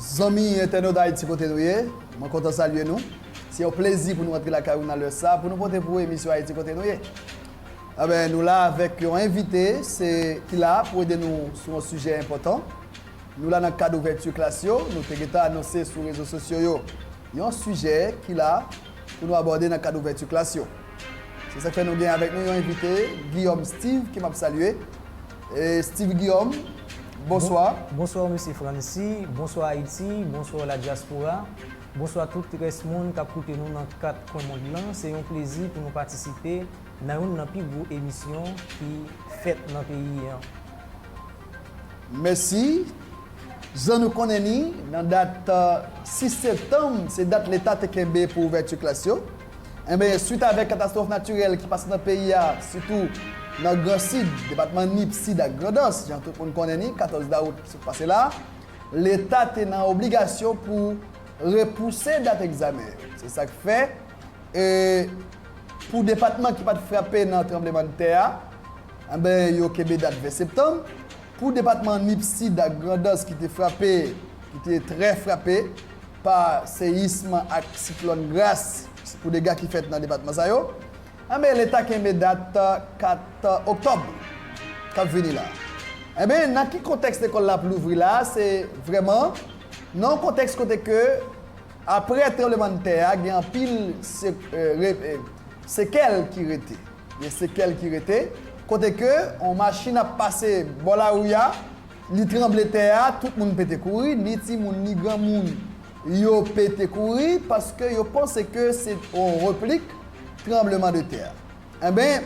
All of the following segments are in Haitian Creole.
Zanmi entènot Haïti kote nou ye, mwen kontan salye nou. Se yon plezi pou nou antre lakay ou nan lè sa pou nou pote pou ou emisyon Haïti kote nou ye. Enben, nou la avèk yon envite se ki la pou ede nou sou yon sijè enpòtan. Nou la nan kad ouvèti klas yo, nou te gentan anonse sou rezo sosyo yo yon sijè ki la pou nou abòde nan kad ouvèti klas yo. Se sa k fè nou gen avèk nou yon envite, Guillaume Steve ke m ap salye. Steve Guillaume, bonswa. Bonswa Mesye Francy, bonswa Ayiti, bonswa la dyaspora, bonswa tout rès moun k ap koute nou nan kat kwen mond lan. Se yon plezi pou nou patisipe nan youn nan pi gwo emisyon ki fèt nan peyi an. Mèsi. Jan nou konnen ni, nan dat 6 septanm, se dat leta te kenbe pou ouvèti klas yo, enben, swit avèk katastwòf natirèl ki pase nan peyi a, sitou nan Gran Sid, depatman Nip, Sid ak Grandans, jan tout moun konnen ni, 14 dawout sot pase la, leta te nan obligasyon pou repouse dat egzamen yo. Se sa k fè, e, pou depatman ki pa t frape nan tranblemanntè a, Anben yo kenbe dat 20 septanm pou depatman Nip Sid ak Grandans ki te frape ki te trè frape pa seyism ak siklòn Gras pou dega ki fèt nan depatman sa yo. Anben leta kenbe dat 4 oktòb k ap vini la. Anben nan ki kontèks lekòl la ap louvri la a se vrèman nan yon kontèks kote ke aprè tranblemann tè a gen anpil sekèl ki rete. Gen sekèl ki rete, kote ke yon machin ap pase bò lari a, li tranble tè a, tout moun pete kouri, ni timoun, ni granmoun, yo pete kouri, paske yo panse ke se yon replik tranbleman de tè. Enben,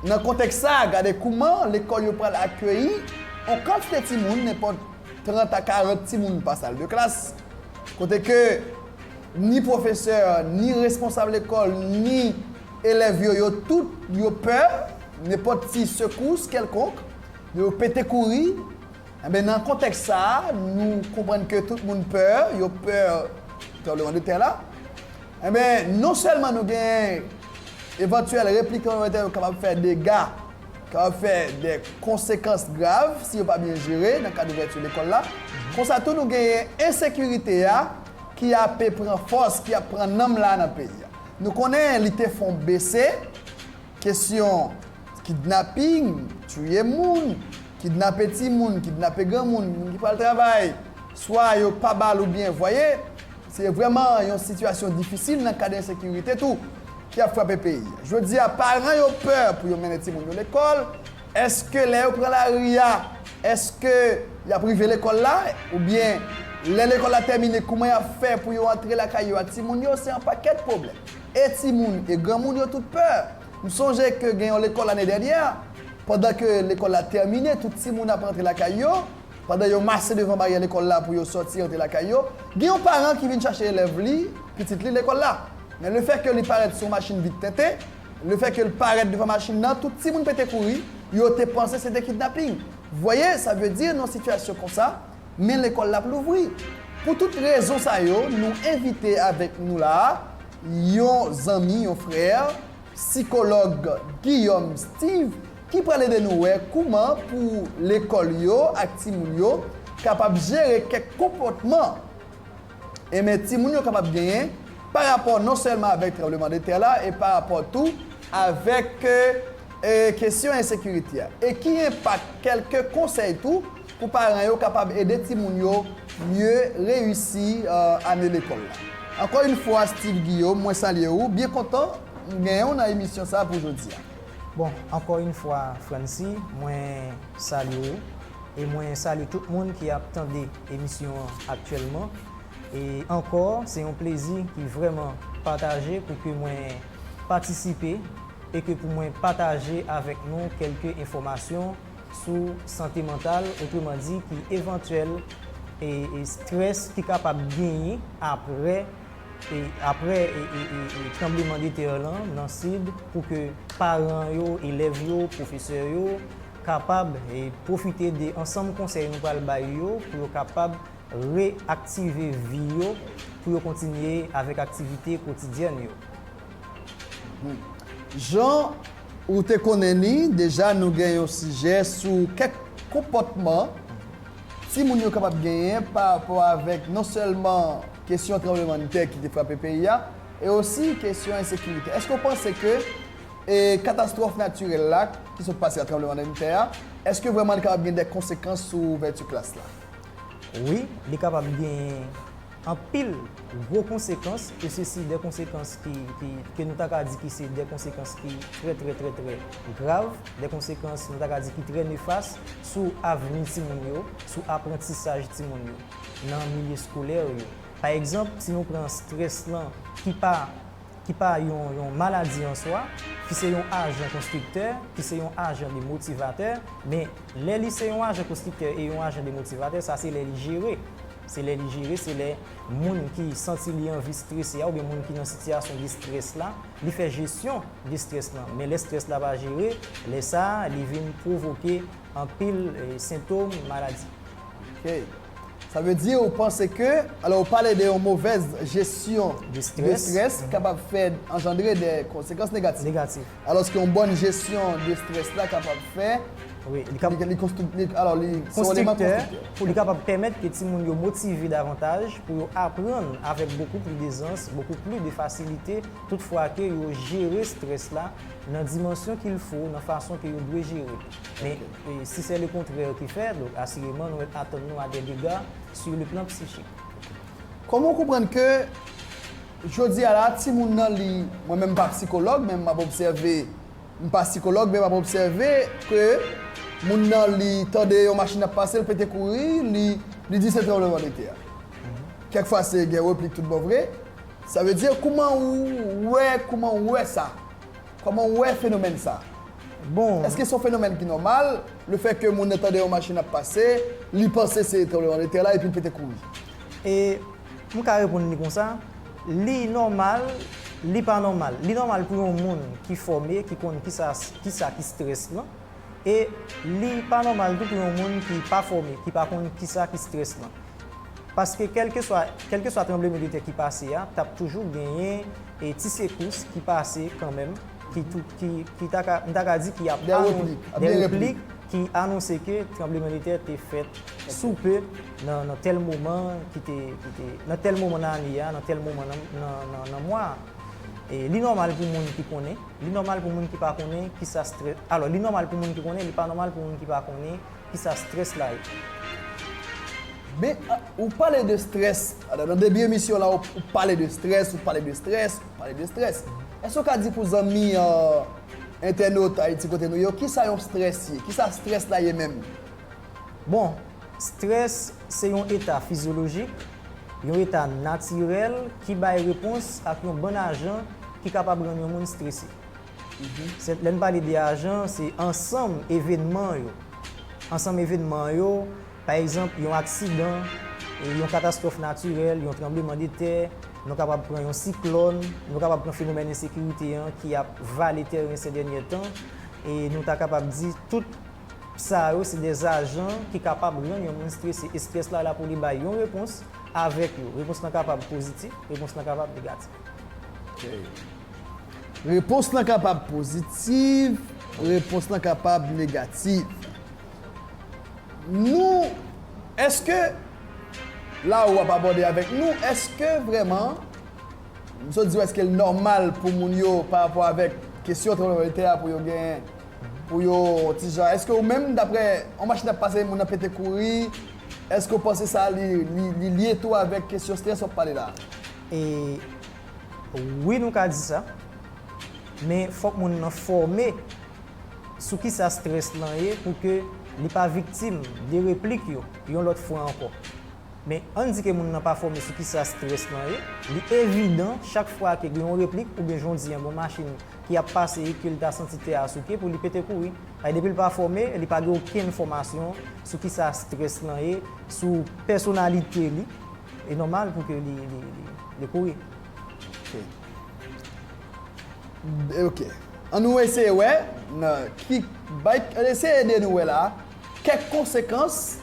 nan kontèks sa a, gade kouman lekòl yo pral akeyi yon kantite timoun, nenpòt 30 a 40 timoun pa sal de klas, kote ke ni pwofesè, ni responsab lekòl, ni. Elèv yo yo tout yo pè nenpòt ti sekous kèlkonk, yo pete kouri, enben nan kontèks sa a nou konprann ke tout moun pè, yo pè tranbleman de tè la, enben non sèlman nou gen evantyèl replik tranbleman de tè yo kapab fè dega, kapab fè de konsekans grav si yo pa byen jere nan kad ouvèti lekòl la, konsa tou nou genyen ensekirite a ki ape pran fòs, ki ap pran nanm la nan peyi a. Nou konnen li te fon bese, kesyon kidnaping, touye moun, kidnape timoun, kidnape granmoun, moun ki pral travay, swa yo pa ba l oubyen voye, se vrèman yon sitiyasyon difisil nan kad ensekirite tou ki ap frape peyi. Jodi a paran yo pè pou yo mennen timoun yo lekòl, Èske lè yo pran lari a, èske y ap rive lekòl la? Oubyen, lè lekòl la tèmine, kouman y ap fè pou yo antre lakay yo ak timoun yo? Se yon pakèt pwoblèm. E timoun, e granmoun, yo tout pè. M sonje ke gen yon lekòl ane dènyè, pandan ke lekòl la tèmine, tout timoun ap antre lakay yo, pandan yo mase devan baryè lekòl la pou yo sòti antre lakay yo, gen yon paran ki vin chache elèv li, pitit li, lekòl la. Men lefètke li parèt sou yon machin vit tenten, Lefèke l parèt devan machin nan, tout timoun pete kouri, yo te panse se te kidnaping. Voye sa vle di nan sitiyasyon konsa, men lekòl la ap louvri. Pou tout rezon sa yo, nou envite avèk nou la a, yon zanmi, yon frè, sikològ Guillaume Steve, ki pral ede nou wè kouman pou lekòl yo ak timoun yo kapab jere kèk konpòtman. e men timoun yo kapab genyen pa rapò non sèlman avèk tranbleman de tè la e pa rapò tou avèk e kesyon ensekirite a e ki enpak kèlke konsèy tou pou paran yo kapab ede timoun yo mye reyisi ane lekòl la. Ankò yn fwa Steeve Guillaume mwen salye ou, byen kontan m genyen w nan emisyon sa pou jodi a. Bon, ankò yn fwa Francy mwen salye ou e mwen salye tout moun ki ap tande. emisyon an aktyèlman e ankò se yon plezi ki vrèman pataje pou ke mwen patisipe e ke pou mwen pataje avèk nou kèlke enfòmasyon sou sante mantal otreman di ki evantyèl e strès ki kapab genyen aprè e aprè e tranbleman de tè lan nan sid pou ke paran yo, elèv yo, pwofesè yo. kapab pwofite de ansanm konsèy nou pral bay yo pou yo kapab re-aktive vi yo pou yo kontinye avèk aktivite kotidyèn yo. Jan ou te konnen li deja nou gen yon sijè sou kèk konpòtman timoun yo kapab genyen pa rapò avèk non sèlman kesyon tranblemann tè ki te frape peyi a e osi kesyon ensekirite. Èske ou panse ke E katastwòf natirèl la ki sot pase a tranblemann tè a, èske vrèman li kapab gen dè konsekans sou ouvèti klas la? Wi, li kapab genyen anpil gwo konsekans e sesi dè konsekans ki ki ke nou ta ka di ki se dè konsekans ki trè trè trè trè grav, dè konsekans nou ta ka di ki trè nefas sou avni timoun yo, sou aprantisaj timoun yo nan milye skolè yo. Pa egzanp, si nou pran strès lan ki pa. ki pa yon yon maladi an swa, ki se yon ajan konstriktè, ki se yon ajan de motivatè, men lè li se yon ajan konstriktè e yon ajan de motivatè, sa se lè li jere. Se lè li jere, se lè moun ki santi li anvi strese a, oubyen moun ki nan sitiyasyon de strès la, li fè jesyon de strès lan. Men lè strès la pa jere, lè sa a, li vin pwovoke anpil sentom maladi. Ok. Sa vle di ou panse ke, alò ou pale de yon movèz jesyon de strès kapab fè anjandre de konsekans negatif. Alòs ke yon bòn jesyon de strès la kapab fè, li konstriktif, alò li se yon eleman konstriktif. Pou li kapab pèmèt ke timoun yo motive davantaj pou yo aprann avèk bokou pli dezans, bokou pli de fasilite, tout fwa ke yo jere strès la nan dimansyon kilfo, nan fason ke yo dwe jere li. Men. E si se le kontrè ki fè, donk asireman nou mèt atann nou a dè dega sur le plan psychique. Koman w konprann ke jodi a la a timoun nan li, mwen menm m pa psikològ men m ap obsève, m pa sikològ men m ap obsève ke moun nan li tande yon machin ap pase l pete kouri li li di se tranbleman de tè a. Kèk fwa se gen replik tout bon vre. Sa vle di kouman ou wè kouman ou wè sa? Kòman ou wè fenomèn sa? Bon. Eske son fenomèn ki nòmal, le fè ke moun nan tande yon machin ap pase, li panse se tranbleman de tè la epi l pete kouri? E, m ka reponn li konsa, li nòmal, li pa nòmal. Li nòmal pou yon moun ki fòme, ki konn kisa, kisa ki strès lan. E, li pa nòmal tou pou yon moun ki pa fòme, ki pa konn kisa ki strès lan. Paske kèlkeswa kèlkeswa tranblemen de tè ki pase a tap toujou genyen e ti sekous ki pase kanmenm ki tou ki ki ta ka m ta ka di ki ap anons de replik ki anonse ke tranbleman de tè te fèt sou pe nan nan tèl moman ki te ki te nan tèl moman nan ane a nan tèl moman nan nan nan nan mwa a. E li nòmal pou moun ki konnen li nòmal pou moun ki pa konnen kisa strè alò li nòmal pou moun ki konnen li pa nòmal pou moun ki pa konnen. Kisa stress la ye? Men ou pale de stress, nan debi emisyon la ou pale de stress, ou pale de stress, ou pale de stress. Eske ou ka di pou zanmi entènot Ayiti Kote Nou yo kisa yon stress ye? Kisa stress la ye menm? Bon, stress se yon eta fizyolojik, yon eta natirèl ki bay repons ak yon bann ajan ki kapab rann yon moun strese. Lè n pale de ajan, se ansanm evenman yo. Ansanm evenman yo, pa egzanp, yon aksidan, yon katastwòf natirèl, yon tranbleman de tè, nou kapab pran yon siklòn, nou kapab pran fenomèn ensekirite an ki ap vale tèren sè dènyè tan, e nou ta kapab di tout sa yo se de ajan ki kapab rann yon moun strese. E strès la la pou li bay yon repons avèk yo. Repons lan kapab pozitif, repons lan kapab negatif. Repons lan kapab pozitiv, repons lan kapab negativ. Nou, èske la ou ap abòde avèk nou, èske vrèman, m sot di ou èske l nòmal pou moun yo pa rapò avèk kesyon tranbleman de tè a pou yo gen, pou yo on ti jan, èske ou menm daprè on machin ap pase moun nan pete kouri, èske ou panse sa li lye tou avèk kesyon strès w ap pale la a? E wi nou ka di sa. Men fòk moun nan fòme sou kisa strès lan ye pou ke li pa viktim de replik yo yon lòt fwa ankò. Men ann di ke moun nan pa fòme sou kisa strès lan ye, li evidan chak fwa ke gen yon replik oubyen jan w di an gen yon machin ki ap pase e ke li ta santi tè a souke pou li pete kouri. Paske depi l pa fòme, li pa gen okenn fòmasyon sou kisa strès lan ye, sou pèsonalite li, E nòmal pou ke li kouri. Ok. An nou eseye wè nan ki bay eseye ede nou wè la a kèk konsekans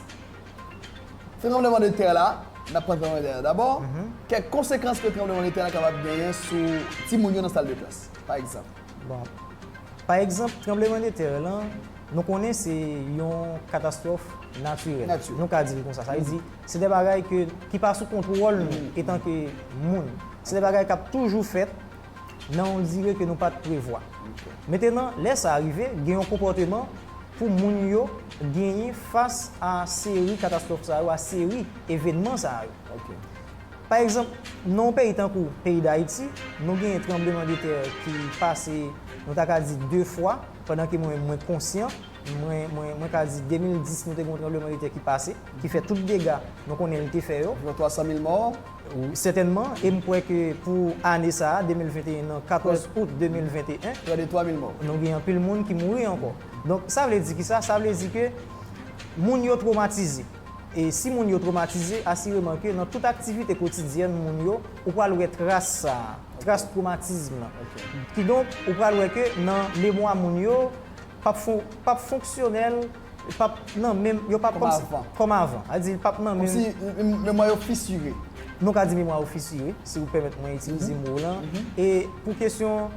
tranbleman de tè la n ap pran tranbleman de tè la dabò kèk konsekans ke tranbleman de tè la kapab genyen sou timoun yo nan sal de klas pa egzanp. Bon pa egzanp tranbleman de tè lan nou konnen se yon katastwòf natirèl nou ka di li konsa sa vle di Se de bagay ke, ki pa sou kontwòl nou etan ke moun. Se de bagay kap toujou fèt nan yon dire ke nou pat prevwa. Metenan, lè sa rive, gen yon konpòteman pou moun yo genyen fas a seri katastwòf sa yo, a seri evenman sa yo. Pa egzanp, nan yon peyi tankou peyi Dayiti, nou genyen tranbleman de tè ki pase, nou ta ka di 2 fwa, pandan ke mwen mwen konsyan, Mwen ka di 2010 nou te gen yon tranbleman de tè ki pase, ki fè tout dega nou konnen li te fè yo. Gen 300 mil mò. Sètènman, e m kwè ke pou ane sa a, 2021 nan, 14 out 2021. Pran de 3 mil mò. Nou gen anpil moun ki mouri ankò. Donk, sa vle di ki sa? Sa vle di ke moun yo twomatize. E si moun yo twomatize, asireman ke nan tout aktivite kotidyèn moun yo, ou pral wè tras sa a, tras twomatizm lan. Kidonk, ou pral wè ke nan memwa moun yo, Pap fon, pap fonksyonèl, pap nan menm, yo pap kòmsi, kòm avan. A di, pap nan menm. Kòmsi memwa yo fisire. Nou ka di memwa yo fisire, si ou pèmèt mwen itilize mo lan. E pou kesyon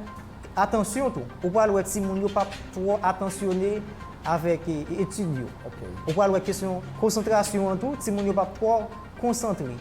atansyon tou, ou pral wè timoun yo pap twò atansyone avèk etid yo. Ou pral wè kesyon konsantrasyon an tou, timoun yo pap twò konsantre.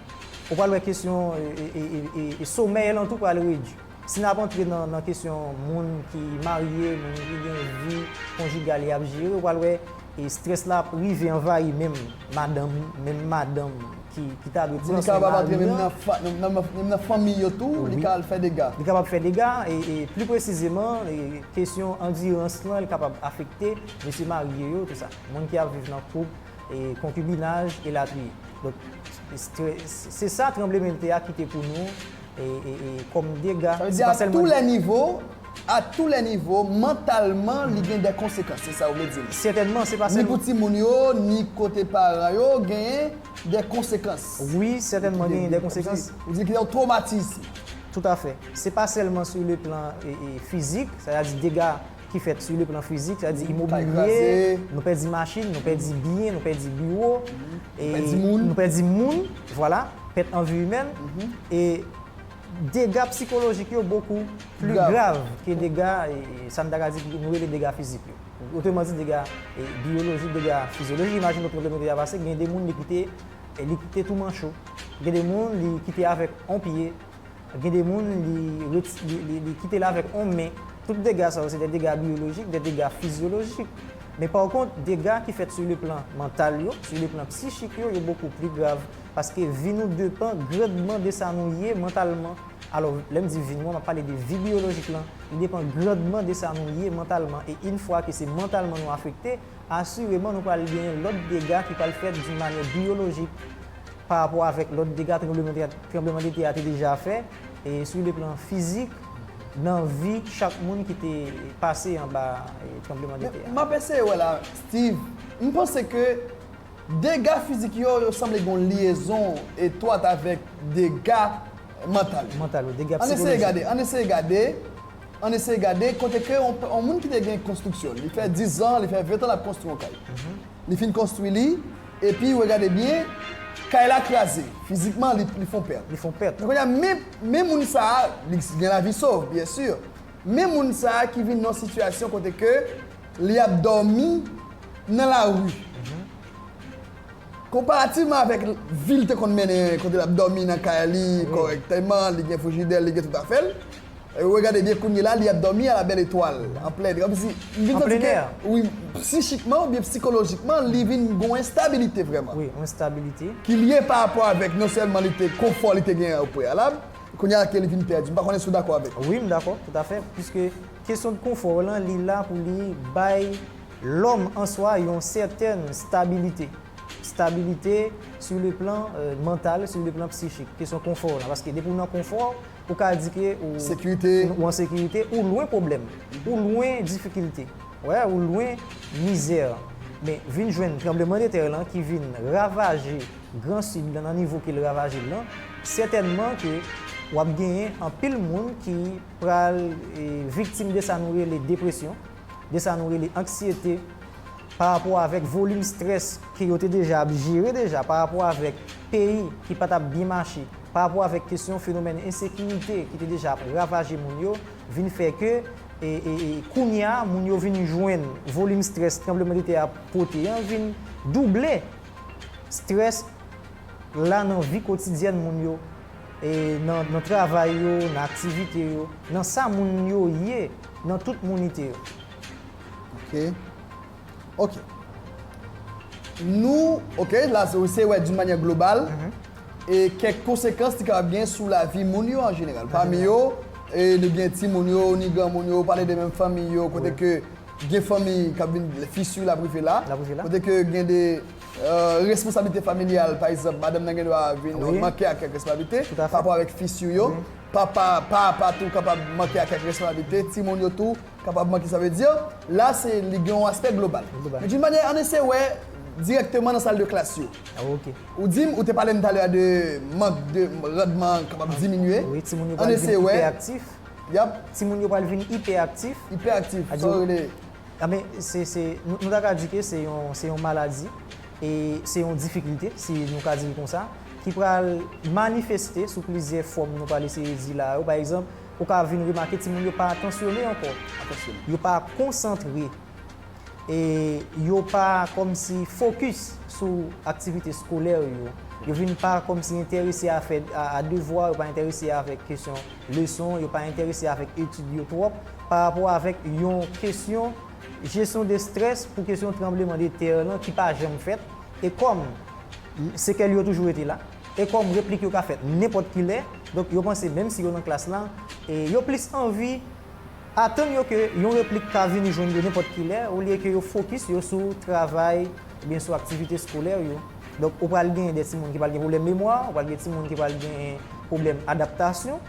Ou pral wè kesyon somèy lan tou pral redwi. Si n ap antre nan kesyon moun ki marye, moun ki gen vi konjigal y ap jere, ou pral wè estrès la ap rive anvayi menm madanm, menm madanm ki ta dwe pran swen mari li an. Menm nan fanmi yo tou, li ka al fè dega. Li kapab fè dega e pli presizeman, kesyon andirans lan li kapab afekte mesye marye yo tou sa. Moun ki ap viv nan koup, konkibinaj, elatriye. Donk, se sa tranblemenntè a kite pou nou. kòm dega. Sa vle di a tou lè nivo, a tou lè nivo, mantalman li gen dè konsekans, se sa ou vle di m. Sètènman, se pa sèlman. Ni pou timoun yo, ni kote paran yo, genyen dè konsekans. Wi, sètènman genyen dè konsekans. Ou di gen yon twomatiz. Toutafè. Se pa sèlman sou le plan fizik, sa vle di dega ki fèt sou le plan fizik, sa vle di imobilye, nou pèdi machin, nou pèdi byen, nou pèdi biwo, nou pèdi moun, vwala, pèt an vi imèn, e dega psikolojik yo bokou pli grav ke dega, sa nou ta ka di ki nou rele dega fizik yo. Otreman di dega biyolojik, dega fizyolojik, imajine yon pwoblèm yo deja pase, gen de moun li kite, li kite tou manch yo, gen de moun li kite avèk yon pye, Gen de moun li li kite l avèk on men. Tout dega sa yo se de dega biyolojik, de dega fizyolojik. Men pa kont, dega ki fèt sou le plan mantal yo, sou le plan psichik yo, yo bokou pli grav. Paske vi nou depan grandman de sa nou ye mantalman. Alò, lè m di vi nou an, m ap pale de vi biyolojik lan. Li depan grandman de sa nou ye mantalman. E in fwa ke se mantalman nou afekte, asireman nou pral genyen lòt dega ki pral fèt doun manyè biyolojik. Pa rapò avèk lòt dega tranbleman de tè a te deja fè, sou le plan fizik, nan vi chak moun ki te pase anba tranbleman de tè a. M ap eseye wè la, Steve. M panse ke dega fizik yo, yo sanble gen yon lyezon etwat avèk dega mantal yo. Mantal yo, dega psikolojik yo. Ann eseye gade, ann eseye gade kote ke yon moun ki te gen konstriksyon, li fè dizan, li fè ventan l ap konstwi yon kay. Li fin konstwi li, epi, regade byen, kay la kraze. Fizikman, li, li fon pèt. Li fon pèt. Men kounye a, men, men moun sa a, li gen lavi sov, byen si, men moun sa a ki vin nan yon sitiyasyon kote ke li ap dòmi nan lari, konparativman avèk vi li te konn mennen, kote l ap dòmi nan kay li kòrèkteman, li gen frijidè l, li gen tout afè l. Regade byen kounyela li ap domi a la belle etoile an plen er msi m vin santi ke wi psichikman ou byen psikolojikman li vin gon enstabilite vreman wi yon enstabilite. Ki lye pa rapò avèk non sèlman li te konfò li te gen o preyalab kounya a ke li vin pèdi m pa konnen si w dakò avèk mwen. Wi m dakò tout afè puiske kesyon de konfò lan li la pou li bay lòm an swa yon sètèn stabilite stabilite su le plan mantal su le plan psichik kesyon konfò lan paske depi w nan konfò ou ka di ke ou an sekirite, ou lwen pwoblèm, ou lwen difikilte, ou lwen mizè. Men, vin jwenn tranbleman de tè lan ki vin ravaje gran Sid lan nan nivo ke l ravaje l lan, sètènman ke w ap genyen anpil moun ki pral viktim de sa nou rele depresyon, de sa nou rele anksyete pa rapò avèk volim strès ke yo te deja ap jere deja, pa rapò avèk peyi ki pa t ap byen mache. pa rapò avèk kesyon fenomèn ensekirite ki te deja ap ravaje moun yo vin fè ke kounye a moun yo vin jwenn volim strès tranblemandetè a pote an vin double strès la nan vi kotidyèn moun yo nan travay yo, nan aktivite yo, nan sa moun yo ye nan tout mounite yo. Ok. Ok. Nou, ok, la se ou se wè di manyè global, e kèk konsekans li kapab gen sou lavi moun yo an jeneral. Pami yo, e nou gen ti moun yo, ni gran moun yo, pale de menm fanmi yo, kote ke gen fanmi k ap vin, fissure l ap rive la, kote ke gen de responsablite familyal, pa egzanp, madanm nan gen dwa vin manke ak kèk responsablite, pa rapò avèk fissure yo, papa, pa a pa tou kapab manke ak kèk responsablite, ti moun yo tou, Kapabman ki sa vle di, la se li gen yon aspè global. Men d'une manyè, ann eseye wè dirèkteman nan sal de klas yo. Ou di m, ou te pale m talè a de mank de randman an kapab diminye. Wi, timoun yo pral vin ipèaktif. Yap. Timoun yo pral vin ipèaktif. Ipèaktif, sa w rele? Anben, se, se, nou ta ka di ke se yon, se yon maladi e se yon difikilte, si nou ka di l konsa, ki pral manifeste sou plizyè fòm nou pral eseye di la yo. Pa egzanp. Ou ka vin remake timoun yo pa atansyone ankò. Atansyone. Yo pa konsantre. E yo pa kòmsi fokis sou aktivite skolè yo. Yo vin pa kòmsi enterese a fè a devwa, yo pa enterese avèk kesyon leson, yo pa enterese avèk etid yo twòp parapò avèk yon kesyon jesyon de strès pou kesyon tranbleman de tè lan ki pa janm fèt e kòm sekèl yo toujou rete la. E kòm replik yo ka fèt nenpòt ki lè, donk yo panse menm si yo nan klas la, e yo plis anvi atann yo ke yon replik ka vini jwenn yo nenpòt ki lè olye ke yo fokis yo sou travay oubyen sou aktivite skolè yo. Donk ou pral gen de timoun ki pral gen pwoblèm memwa, ou pral gen timoun ki pral gen pwoblèm adaptasyon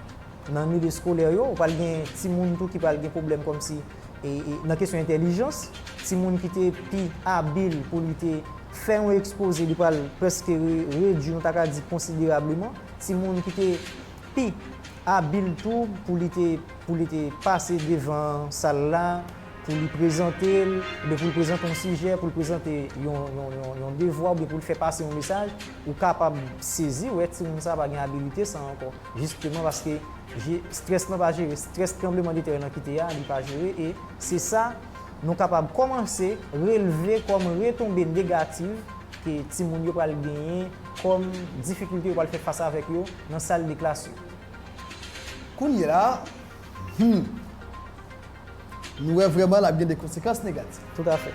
nan milieu skolè yo, ou pral gen timoun tou ki pral gen pwoblèm kòmsi. nan kesyon entèlijans, timoun ki te pi abil pou li te fè yon ekspoze, li pral prèske redui, nou ta ka di konsiderableman, timoun ki te pi abil tou pou li te pou li te pase devan sal la, pou li prezante l, oubyen pou l prezante yon sijè, pou l prezante yon yon devwa, oubyen pou l fè pase yon mesaj, ou kapab sezi wè timoun sa a pa gen abilite sa a ankò. Jisteman paske je stress lan pa jere, stress tranbleman de terre nan kite a li pa jere e se sa nou kapab komanse releve kom retonbe negativ ke timoun yo pral genyen kom difikilte yo pral fè fas avek yo nan sal de klas yo. Kounyela a humm. Nou wè vrèman l ap gen de konsekans negatif. Tout a fè.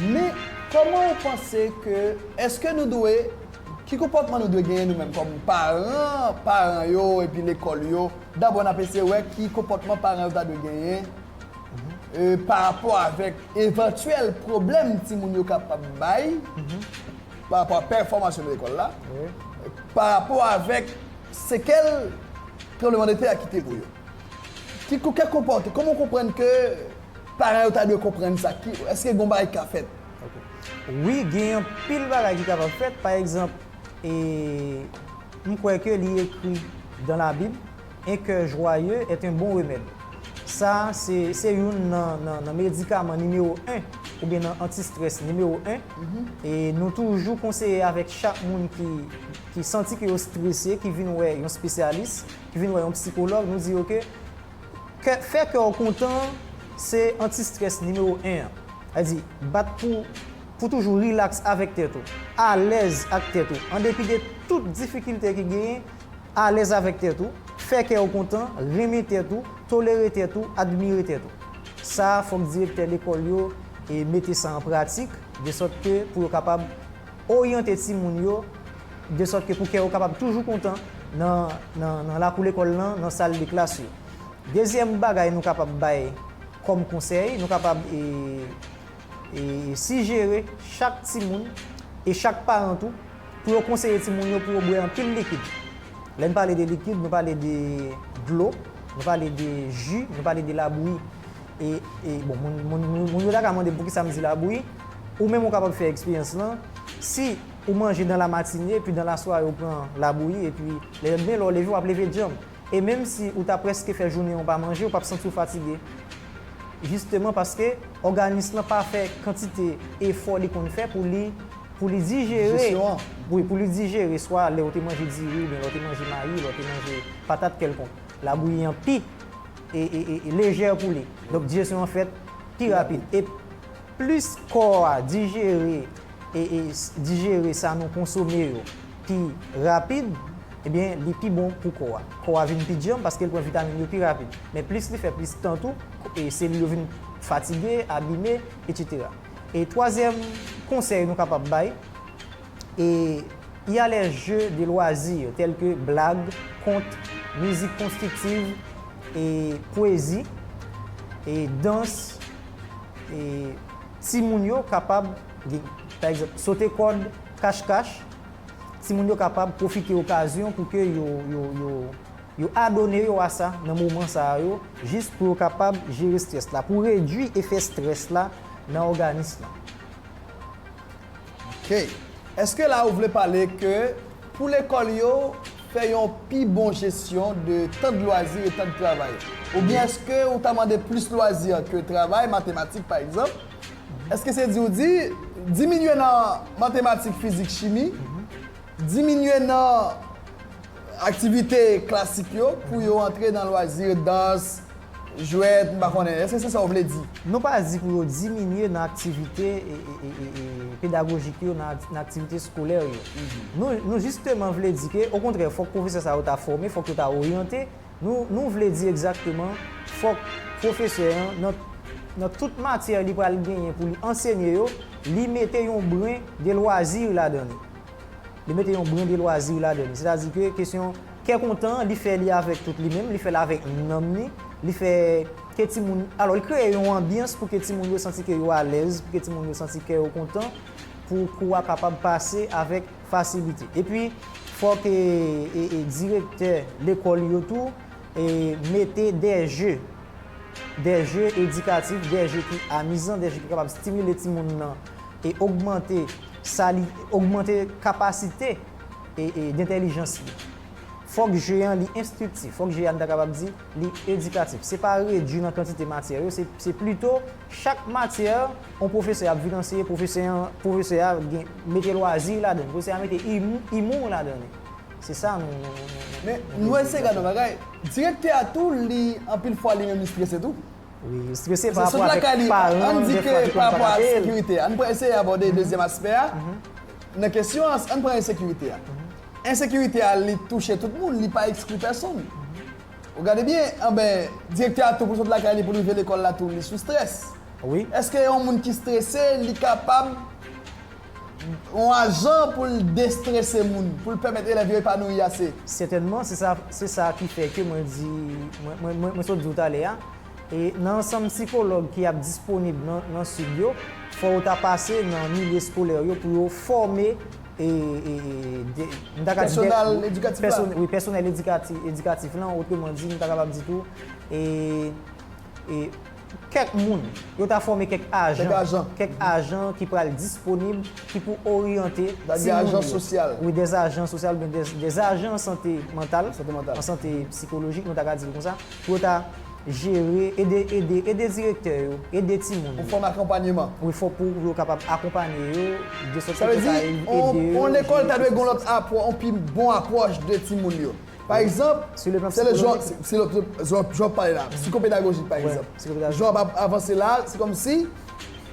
Men, kòman ou panse ke, èske nou dwe, ki konpòtman nou dwe genyen nou menm kòm paran, paran yo epi lekòl yo, dabò n ap eseye wè ki konpòtman paran yo ta dwe genyen e pa rapò avèk evantyèl pwoblèm timoun yo kapab bay pa rapò a pèfòmans yo nan lekòl la, pa rapò avèk sekèl tranbleman de tè a kite pou yo. Ti kou kè konpòte, kòman w konprann ke paran yo ta dwe konprann sa? Ki, èske gon bagay ki ka fèt? Ok. Wi, gen yon pil bagay ki kapab fèt. Pa egzanp, e, m kwè ke li ekri dan la Bib, Un kè jwaye èt un bon remèd. Sa a, se, se youn nan, nan, nan medikaman nimewo 1, oubyen nan anti-stress nimewo 1. E nou toujou konseye avèk chak moun ki, ki santi ke yo strese, ki vin wè yon spesyalis, vin wè yon psikològ, nou di ok, kè, fè kè w kontan an, se anti strès nimewo 1 an. Sa vle di, bat pou, pou toujou rilaks avèk tèt ou, alèz ak tèt ou, an depi de tout difikilte ki genyen, alèz avèk tèt ou, fè kè w kontan, renmen tèt ou, tolere tèt ou, admire tèt ou. Sa, fòk direktè lekòl yo e mete sa an pratik, de sòt ke pou yo kapab. Oryante timoun yo desòt ke pou kè yo kapab toujou kontan nan lakou lekòl lan, nan sal de klas yo. Dezyèm bagay nou kapab bay kòm konsèy, nou kapab sijere chak timoun e chak paran tou pou yo konseye timoun yo pou yo bwè anpil likid. Lè n pale de likid, nou pale de dlo, nou pale de ji, nou pale de labouyi. Bon, moun yo ta ka mande m poukisa m di labouyi. Ou menm ou kapab fè eksperyans lan, si ou manje dan la matine epi dan la sware ou pran labouyi epi lèdmen lè ou leve wap leve djanm. E menm si ou ta prèske fè jounen an ou pa manje ou pap santi ou fatige. Jisteman paske òganis lan pa fè kantite efò li konn fè pou li pou li dijere, wi pou li dijere swa lè ou te manje diri oubyen lè ou te manje mayi, lè ou te manje patat kèlkonk. Labouyi an pi e e e lejè pou li. Donk dijesyon an fèt pi rapid. E Plis kò a dijere dijere sa nou konsome yo pi rapid, ebyen li pi bon pou kò a. Kò a vin pi djanm paske l pran vitamin yo pi rapid. Men plis li fè plis tan tou, selil yo vin fatige, abime, etsetera. E twazyèm konsèy nou kapab bay, e y a les jeux de loisirs tels que blag, kont, mizik konstriktiv, e pwezi, e dans. E timoun yo kapab, pa egzanp, sote kòd kachkach, timoun yo kapab pwofite okazyon pou ke yo, yo, yo, yo adone yo a sa nan moman sa a yo, jis pou yo kapab jere strès la, pou redui efè strès la nan òganis lan. Ok. Eske la ou vle pale ke pou lekòl yo fè yon pi bon jesyon de tan de lwazi e tan de travay? Oubyen eske ou ta mande plis lwazi ke travay, matematik pa egzanp? Eske se di ou di, diminye nan matematik, fizik, chimi, diminye nan Aktivite klasik yo pou yo antre nan lwazi yo dans, jwèt, m pa konnen. Èske se sa w vle di? Nou pa di pou yo diminye nan aktivite pedagojik yo, nan aktivite skolè yo. Nou jisteman vle di ke okontrè fòk pwofesè sa yo ta fòme, fòk yo ta oryante. Nou vle di egzakteman fòk pwofesè an nan tout matyè li pral genyen pou li ansenye yo, li mete yon bren de lwazi ladan li. Li mete yon brin de lwazi ladan li. Sètadi ke kesyon kè kontan, li fè li avèk tout li menm, li fè l avèk nanm li, li fè ke timoun, alò li kreye yon anbyans pou ke timoun yo santi ke yo alèz, pou ke timoun yo santi kè yo kontan, pou kou a kapab pase avèk fasilite. Epi, fòk direktè lekòl yo tou mete dè je, dè je edikatif, dè je ki amizan, dè je ki kapab stimile timoun nan e ogmante. Sa li ogmante kapasite dentèlijans li. Fòk je an li enstriktif. Fòk je a n ta kapab di li edikatif. Se pa redui nan kantite matyè yo, se plito chak matyè yon pwofesè ap vin anseye, pwofesè an, pwofesè a gen, mete lwazi ladan li, pwofesè a mete imou ladan li. Se sa nou nou nou. Men, nou eseye gad yon bagay. Direktè a tou li anpil fwa li menm li strese tou. Wi, yo strese pa rapò avèk paran de fwa ki konn pa ka peye l. An pran eseye abòde dezyèm aspè a nan kesyon an, an pran ensekirite a. Ensekirite a li touche tout moun, li pa ekskli pèsonn. Ou gade byen, anben direktè a tou pou l sot lakay li pou l rive lekòl la tou li sou strès. Wi. Èske yon moun ki strese li kapab. Yon ajan pou l destrese moun, pou l pèmèt elèv yo epanouyi ase. Sètènman, se sa, se sa ki fè ke mwen di, mwen, mwen, mwen sot di w talè a, e nan ansanm sikològ ki ap disponib nan, nan Sid yo, fò yo ta pase nan milye eskolè yo pou yo fòme, e, e, de, m ta ka di de. Pèsonal edikatif la. Wi, pèsonèl edikati, edikatif lan, otremandi, m ta kapab di tou, e. e kèk moun, yo ta fòme kèk ajan, kèk ajan ki pral disponib, ki pou oryante timoun yo. Sa di ajan sosyal. Wi, dè ajan sosyal oubyen dè ajan an sante mantal, an sante psikolojik, nou ta ka di l kon sa, pou yo ta jere, ede, ede, ede direktè yo, ede timoun yo. Pou fòm akonpanyeman. Wi, fò pou yo kapab akonpanye yo, de sòt ke yo ta ede yo. Sa vle di, yon lekòl ta dwe gen yon lòt apwò, yon pi bon apwòch de timoun yo. Pa egzanp, se lè jan w pale la, psikopedagojik pa egzanp, jan w ap avanse la, se kòmsi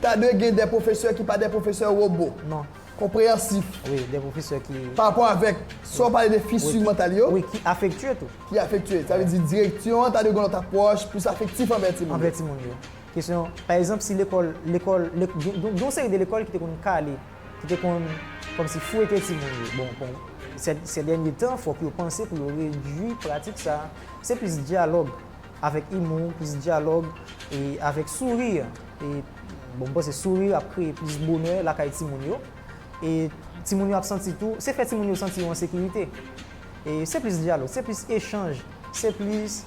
ta dwe gen de pwofesè ki pa de pwofesè wobo, konpreyansif, pa rapò avèk sa w pale de fissure mantal yo, ki afektye tou. Ki afektye. Sa vle di direksyon an ta dwe gen yon lòt apwòch plis afektif anvè timoun yo. Anvè timoun yo. Kesyon, pa egzanp si lekòl, gen yon seri de lekòl ki te konn kale. ki te konn kòmsi fouete timoun yo. Bon, bon, sè dènye tan, fòk yo panse pou yo redui pratik sa a. Se plis dyalòg avèk imou, plis dyalòg e avèk souri. E, bon, m panse souri ap kreye plis bonè lakay timoun yo. E timoun yo ap santi tou, se fè timoun yo santi yo an sekirite. E se plis dyalòg, se plis echanj, se plis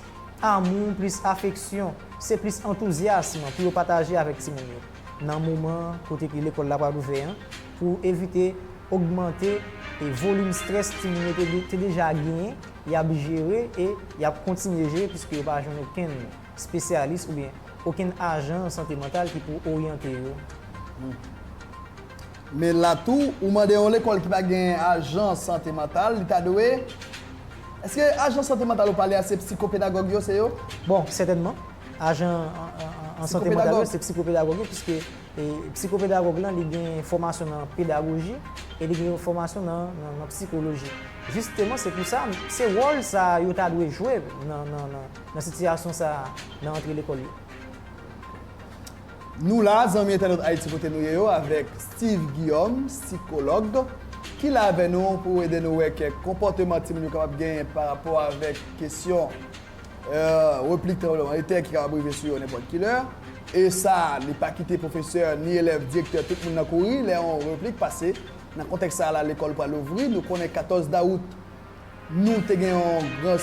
amou, plis afeksyon, se plis antouzyasm pou yo pataje avèk timoun yo. nan moman kote ke lekòl la pral ouvè an pou evite ogmante e volim strès timoun yo te deja genyen, y ap jere e y ap kontinye jere puiske yo pa jwenn okenn spesyalis oubyen okenn ajan sante mantal ki pou oryante yo. Men la tou, ou mande yon lekòl ki pa gen ajan sante mantal, li ta dwe Èske ajan sante mantal ou pale a se psikopedagòg yo, se yo? Bon, sètènman, ajan an sante mantal yo se psikopedagòg yo piske psikopedagòg lan li gen fòmasyon nan pedagoji e li gen fòmasyon nan psikoloji. Jisteman, se pou sa, se wòl sa a yo ta dwe jwe nan sitiyasyon sa a nan antre lekòl yo. Nou la zanmi entènot Ayiti kote nou ye yo avèk Steeve Guillaume, sikològ, ki la avè nou pou ede nou wè kèk konpòteman timoun yo kapab genyen pa rapò avèk kesyon replik tranbleman de tè ki kapab rive sou yo nenpòt ki lè. E sa li pa kite pwofesè, ni elèv, direktè, tout moun nan kouri lè yon replik pase. Nan kontèks sa a la lekòl pral louvri. Nou konnen 14 dawout Nou te gen yon gran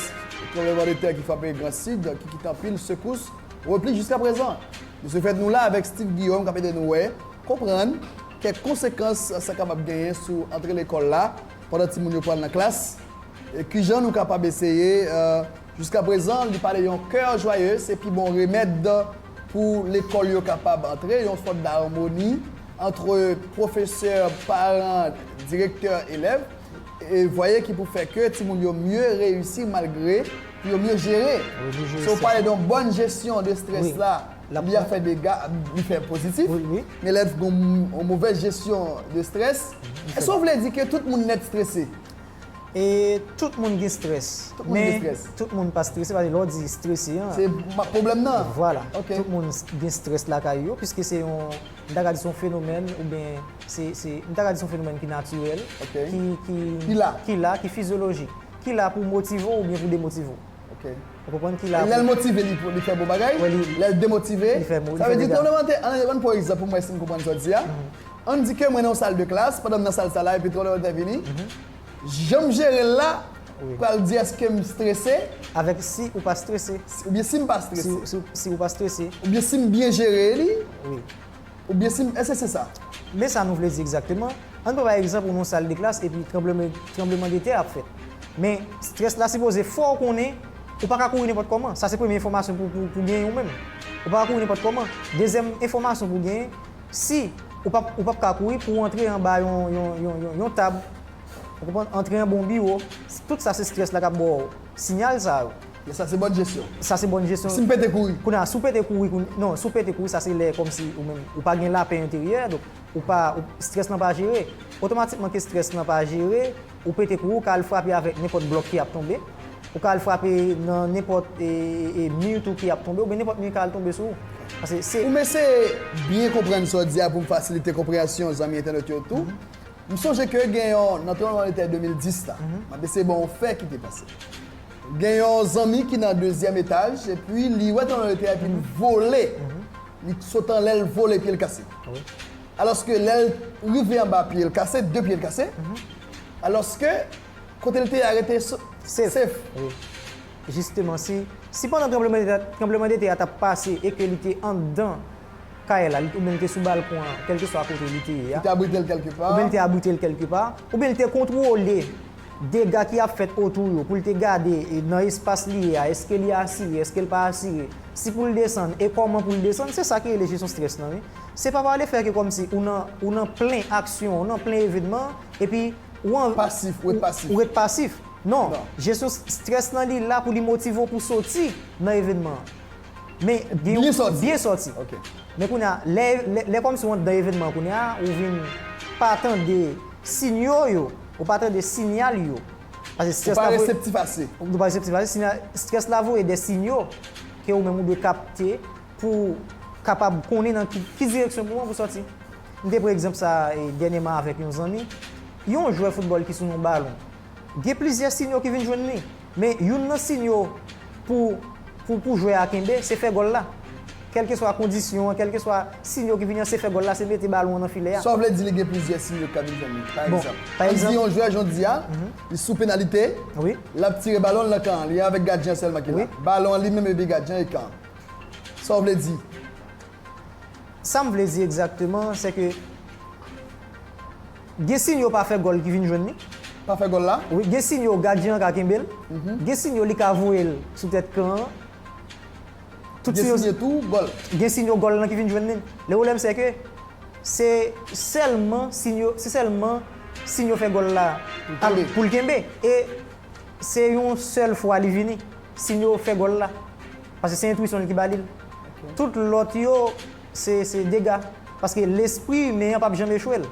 tranbleman de tè ki frape Gran Sid, ki kite anpil sekous, repli jiska prezan. De se fèt, nou la avèk Steve Guillaume k ap ede nou wè, konprann, kèk konsekans sa kapab genyen sou antre lekòl la pandan timoun yo pral nan klas, e kijan nou kapab eseye Jiska prezan, li pale yon kè jwaye se pi bon remèd pou lekòl yo kapab antre yon sòt darmoni antre pwofesè, paran, direktè, elèv. vwaye ki pou fè ke timoun yo mye reyisi malgre pou yo mye jere se ou pale don bòn jesyon de strès la li a fè dega li fè pozitif men lè gon movèz jesyon de strès èske ou vle di ke tout moun nèt strese e tout moun gen strès men tout moun pa strese paske lè ou di strese an se pwoblèm nan vwala tout moun gen strès lakay yo piske se yon M ta ka di se yon fenomèn oubyen se, se, m ta ka di se yon fenomèn ki natirèl, ki, ki, ki la, ki fizyolojik, ki la pou motive w oubyen pou demotive w. Ou konprann? Ki la pou. Lè l motive, li fè bon bagay, lè l demotive, li fè dega. Sa vle di twonplemanntè, an n pran pou egzanp pou m wè si m konprann sa w di a, an n di ke mwen nan yon sal de klas, pandan m nan sal sa la epi twonplemanntè vini, Janm jere l la pral di èske m strese. Avèk si ou pa strese. Oubyen si m pa strese. Si ou pa strese. Oubyen si m byen jere li. Oubyen si m, èske se sa? Men sa nou vle di egzakteman, An n pran bay egzanp ou nan yon sal de klas epi tranbleman de tè ap fèt. Men, strès la sipoze fè w konnen ou pa ka kouri nenpòt kòman. Sa se premye enfòmasyon pou w genyen ou menm. Ou pa ka kouri nenpòt kòman. Dezyèm enfòmasyon pou w genyen, Si, ou pa, ou pap ka kouri pou ou antre anba yon, yon, yon, yon, yon tab. Ou konprann? Antre anba yon biwo. Tout sa se stress la kap ba w sinyal sa yo. Yes sa se bòn jesyon. Sa se bòn jesyon. Si m pete kouri? Kounye a, si w pete kouri koun, non, si w pete kouri sa se lè kòmsi ou menm, ou pa gen lapè enteryè, donk ou pa, ou, stress lan pa jere. Otomatikman ke stress lan pa jere, Ou pete kou ou, ou ka al frape avèk nenpòt blòk ki ap tonbe, ou ka al frape nan nenpòt mi tou ki ap tonbe oubyen nenpòt mi ka al tonbe sou ou. Pase se. Pou m eseye byen konprann sa w di a pou m fasilite konpreyansyon zanmi entènot yo tou, m sonje ke gen yon, nan tranbleman de tè 2010 la, m ap eseye ban w yon fè ki te pase. Gen yon zanmi ki nan dezyèm etaj epi li wè tranbleman de tè a epi l vole, li sot anlè l vole pye l kase. Alòske lè l rive anba pye l kase, de pye l kase. Alòske kote l te ye a rete sef. Wi. Jisteman si, si pandan tranblemandetè a t ap pase e ke li te anndan kay la, oubyen li te sou balkon an, kèlkeswa kote li te ye a. Li te abrite l kèlke pa. Oubyen li te abrite l kèlke pa. Oubyen li te kontwole dega ki ap fèt otou yo pou l te gade nan espas li ye a eske li asire, eske l pa asire. Si pou l desann e kòman pou l desann. Se sa ki rele jesyon strès lan wi. Se pa pa lefè ke kòmsi ou nan, ou nan plen aksyon, ou nan plen evenman, epi ou an, Pasif, ou ret pasif. ou ret pasif. Non, Non. jesyon s- strès lan li la pou li motive w pou soti nan evenman an. Men gen yon, Byen sòti. byen sòti. Ok. Men kounye a, lè, lè, lè kòmsi ou anndan evenman an kounye a, ou vin pa tande sinyo yo, ou pa tande sinyal yo. Pase Ou strès pa la voye, reseptif ase. ou pa reseptif ase, sinyal, strès la voye de sinyo ke ou menm ou dwe kapte pou kapab konnen nan ki direksyon pou w sòti. M te pran egzanp sa a dènyèman avèk yon zanmi. Yon jwè foutbòl ki sou yon balon, gen plizyè sinyo ki vin jwenn li. Men, youn nan sinyo pou jwè a kenbe, se fè gòl la. Kèlkeswa kondisyon an, kèlkeswa sinyo ki vini an, se fè gòl la, se mete balon an nan filè a. Sa w vle di li gen plizyè sinyo ki ka vin jwenn li. Pa egzanp, ann di yon jwè jodi a, li sou penalite, l ap tire balon l nan kan an. Li avèk gadyen an sèlman ki la. Balon an li menm epi gadyen an e kan an. Sa w vle di? Sa m vle di egzakteman, se ke gen siy yo pa fè gòl ki vin jwenn li. Pa fè gòl la? Wi, gen siy yo gadyen an ka kenbe l. Gen siy yo li ka voye l sou tèt kan an. Tout siy yo. Gen siy yo tou gòl. Gen siy yo gòl lan ki vin jwenn li. Le pwoblèm se ke se sèlman siy yo, se sèlman siy yo fè gòl la pou l kenbe. E Se yon sèl fwa li vini. Sinyo fè gòl la. Paske se entwisyon l ki ba li l. Tout lòt yo, se dega. Paske lespri imen an pap janm echwe l.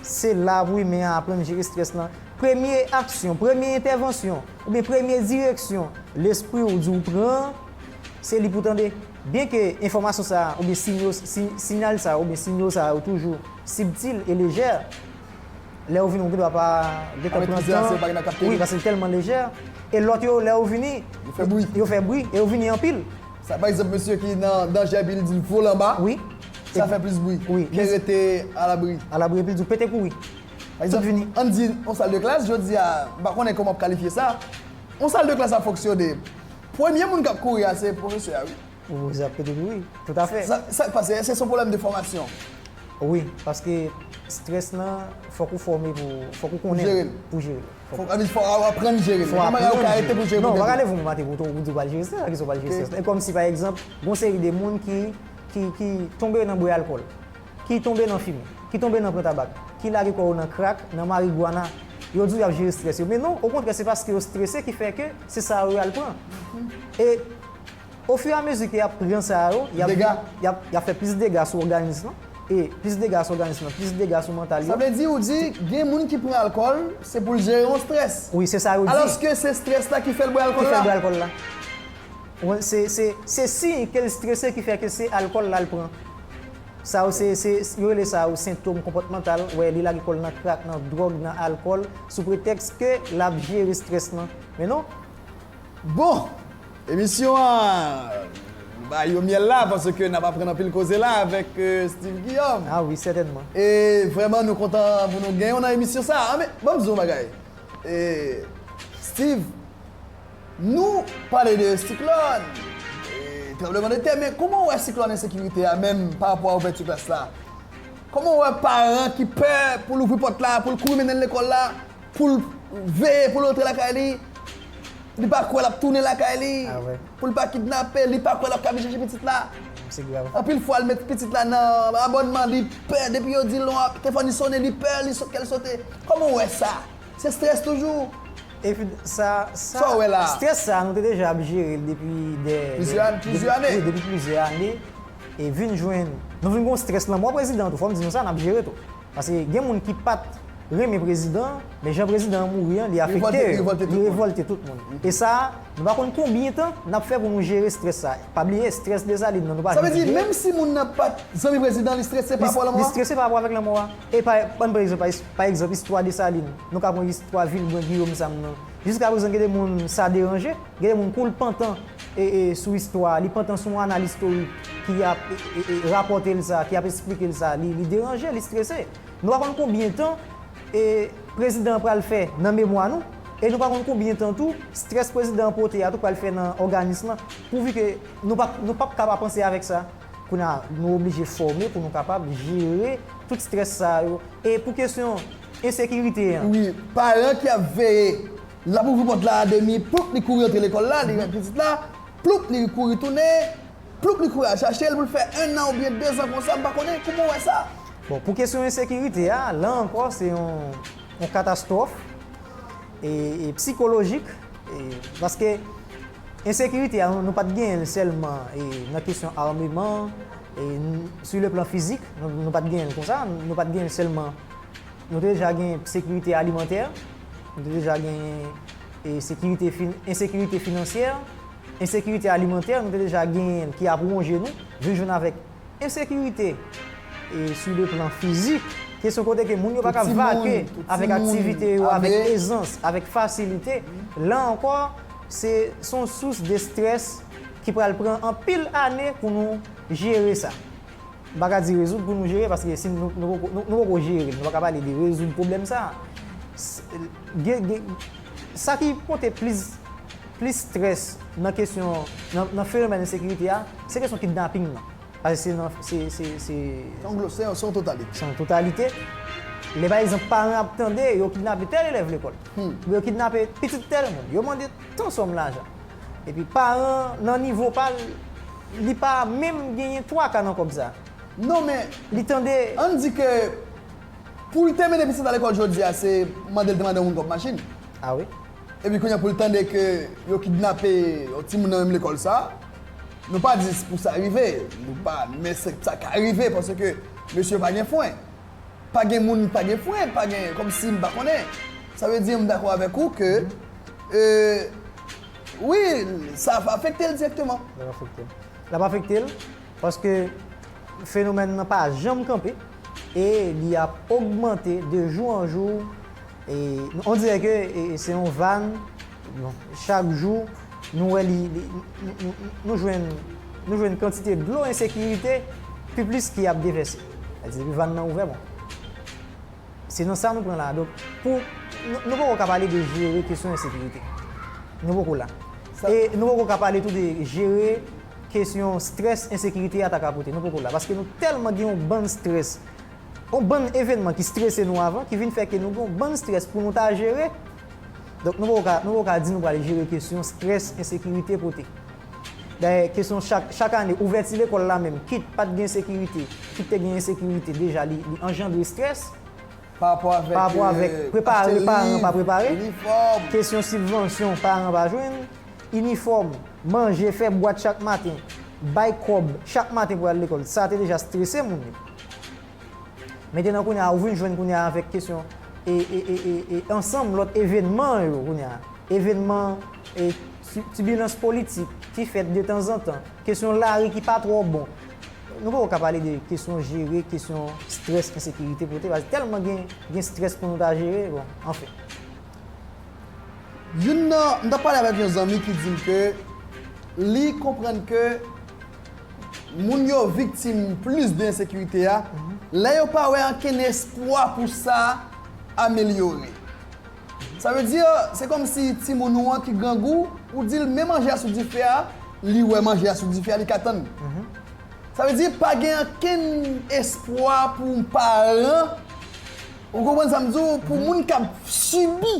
Se la pou imen an aprann jere strès lan. Premye aksyon, premye entèvansyon, oubyen premye direksyon lespri w di w pran an, se li pou w tande. Byenke enfòmasyon sa a, oubyen sinyal sa a, oubyen sinyo sa yo toujou sibtil e lejè, Lè yo vini ou gen dwa pa gentan pran tan. Anmèt pizza a se yon bagay nan kap teni. Wi, paske li tèlman lejè. E lòt yo, lè yo vini. Yo fè bri. Yo fè bri e yo vini anpil. Sa pa egzanp mesye ki nan danjè epi li di l vole anba. Wi. Sa fè plis bri. Wi. Ke rete alabri. Alabri epi l di w pete kouri. Pa egzanp, an n di yon sal de klas jodi a, m pa konnen kòman w ap kalifye sa. Yon sal de klas ap fonksyone. Premye moun k ap kouri a se pwofesè a wi. Ou zè kote pou wi, tout afè. Sak pase, eske son pwoblèm de fòmasyon? Wi, paske strès lan fòk ou fòme pou, fòk ou konnen l pou jere l. Fòk ou aprann jere l. Fòk ou aprann jere l. Gen bagay ou ka rete pou jere l. Non, ou pa ka leve yon maten pou ou di ou pral jere strès, sa ki fè ou pral jere strès. E kòm si pa egzanp, gon seri de moun ki, ki, ki tonbe nan bwè alkòl, ki tonbe nan fimen, ki tonbe nan pran tabak, ki lage kò yo nan krak, nan marigwana, yo di ou y ap jere strès yo. Men non, okontrè se paske yo strese ki fè ke se sa yo y al pran. E. O fur et à mesure ke yap pran sa yo, yap Dega. yap yap fè plis dega sou òganis lan e plis dega sou òganis lan, plis dega sou mantal yo. Sa vle di ou di gen moun ki pran alkòl se pou l jere yon strès. Wi, se sa yo di. Alòske se strès la ki fè l bwè alkòl la. Ki fè l bwè alkòl la. Ou konprann? Se se se siy ke l strese ki fè ke se alkòl la l pran. Sa yo se se yo rele sa yo sentom konpòtmantal, wè li lage kò l nan krak, nan dwòg, nan alkòl sou pretèks ke lap jere strès lan. Men non. Bon! Emisyon an Nou bay yo myèl la paske nap aprann anpil koze la avèk Steeve Guillaume. Ah wi sètènman. E vrèman nou kontan pou nou genyen w nan emisyon sa a. Anben, banm di w yon bagay e Steeve nou pale de siklòn e tranbleman de tè men kouman w wè siklòn ensekirite a menm pa rapò a ouvèti klas la? Kouman w wè paran ki pè pou l ouvri pòt la pou l kouri mennen l lekòl la? Pou l veye pou l antre lakay li, li pa kwè l ap tounen lakay li, pou l pa kidnape, li pa kwè l ap kabi chèche pitit la. Anpil fwa l met pitit la nan abònman, li pè depi yo di l non telefòn li sone li pè li sot kè l sote. Kòman w wè sa? Se strès toujou? Epi sa, sa, strès sa nou te deja ap jere l depi dè, plizyè ane, wi depi plizyè ane e vin jwenn, nou vin gen yon strès lanmò prezidan tou fò m di nou sa n ap jere tou. Paske gen moun ki pat Renmen prezidan an, men jan prezidan an mouri an li afekte yo, li revolte tout moun. E sa a, nou pa konn konbyen tan nap fè pou nou jere strès sa a. Pa bliye strès Dessalines nan nou pa janm jere. Sa vle di menm si moun nan pat zanmi prezidan an li strese pa rapò lanmò a? Li strese pa rapò avèk lanmò a. E pa bann pran egzanp, pa egzanp istwa Dessalines, nou ka pran istwa Vilbrun Guillaume sa m nan. Jiska prezan gen de moun sa deranje. Gen de moun kou l pantan sou istwa a, li pantan sou yon anal istorik ki ap rapòte l sa, ki ap esplike l sa, li deranje, li strese. Nou pa konn konbyen tan prezidan an pral fè nan memwa nou e nou pa konn konbyen tan tou strès prezidan an pote a tou pral fè nan òganis lan pou vi ke nou pa nou pap ka pa panse avèk sa. Kounye a, nou oblije fòme pou nou kapab jere tout strès sa yo. E pou kesyon ensekirite an. Wi, paran ki ap veye. L ap ouvri pòt la a demi, ploup li kouri antre lekòl la, li wè pitit la, ploup li kouri tounen, ploup li kouri al chache l pou l fè ennan oubyen dezan konsa, m pa konnen, kouman w wè sa? Bon, pou kesyon ensekirite a, la ankò se yon katastwòf psikolojik paske ensekirite a nou pa t genyen l sèlman nan kesyon ameman, sou le plan fizik, nou pa t genyen l konsa, nou pa t genyen l sèlman. Nou deja gen sekirite alimantè, nou te deja gen sekirite, ensekirite finansyè, ensekirite alimantè nou te deja genyen l ki ap wonje nou, vin jwenn avèk ensekirite sou le plan fizik, kesyon kote ke moun yo pa ka vake avèk aktivite yo avèk ezans, avèk fasilite, la ankò se son sous de strès ki pral pran anpil ane pou nou jere sa. M pa ka di rezoud pou nou jere paske si nou poko nou poko jere l nou pa ka pale de rezoud pwoblèm sa a. Gen gen sa ki pote plis plis strès nan kesyon nan nan fenomèn ensekirite a se kesyon kidnaping nan paske se nan se se se Se yon glo se yon se yon totalite. Se yon totalite. Lè pa egzanp paran ap tande yo kidnape tèl elèv lekòl. Yo kidnape pitit tèl moun. Yo mande. Ton sòm lajan. Epi paran an nan nivo pa l, li pa menm genyen twa ka nan kòb sa a. Non men, Li tande. ann di ke pou l te mennen pitit la lekòl jodi a se mande l te mande yon moun kòb machin. A wi. Epi kounye a pou l tande ke yo kidnape yon timoun nan menm lekòl sa a, nou pa di pou sa rive, nou pa, men se sa ka rive paske mesye yo pa gen fwen. Pa gen moun pa gen pwen, pa gen kòmsi m pa konnen. Sa vle di m dakò avèk ou ke e wi sa ap afekte l dirèkteman. L ap afekte l. L ap afekte l paske fenomèn nan pa janm kanpe e li ap ogmante de jou an jou e on dirè ke se yon van chak jou nou wè li nou jwenn nou jwenn kantite dlo ensekirite pi plis ki ap devèse. Sa di depi vann nan ouvè bon. Se nan sa nou pran la. Donk pou nou poko ka pale de jere kesyon ensekirite. Nou poko la. E nou poko ka pale tou de jere kesyon strès ensekirite a ta ka pote. Nou poko la. Paske nou tèlman gen yon bann strès. Yon bann evenman ki strese nou avan ki vin fè ke nou gen yon bann strès pou nou ta jere. Donk nou poko ka di nou pral jere kesyon strès ensekirite pote. Dayè, kesyon chak chak ane, ouvèti lekòl la menm, kit pa t gen sekirite, kit te gen ensekirite, deja li li anjandre strès, parapò avèk prepare paran pa prepare, kesyon sibvansyon paran pa jwenn, inifòm, manje, fè bwat chak maten, bay kòb chak maten pou al lekòl, sa te deja strese moun yo. Metenan kounye a ou vin jwenn kounye a avèk kesyon e e e e e ansanm lòt evenman yo kounye a. Evenman e ti tibilans politik ki fèt de tanzantan, kesyon lari ki pa twò bon. Nou poko ka pale de kesyon jere kesyon strès ensekirite pote paske tèlman gen gen strès pou nou ta jere bon anfen. Youn nan, m t ap pale avèk yon zanmi ki di m ke li konprann ke Moun yo viktim plis de ensekirite a lè yo pa wè ankenn espwa pou sa amelyore. Sa vle di, se kòmsi timoun ou an ki grangou, ou di l men manje a sou dife a, li wè manje a sou dife a, li ka tann. Sa vle di pa gen ankenn espwa pou yon paran, ou konprann sa m di w, pou moun k ap sibi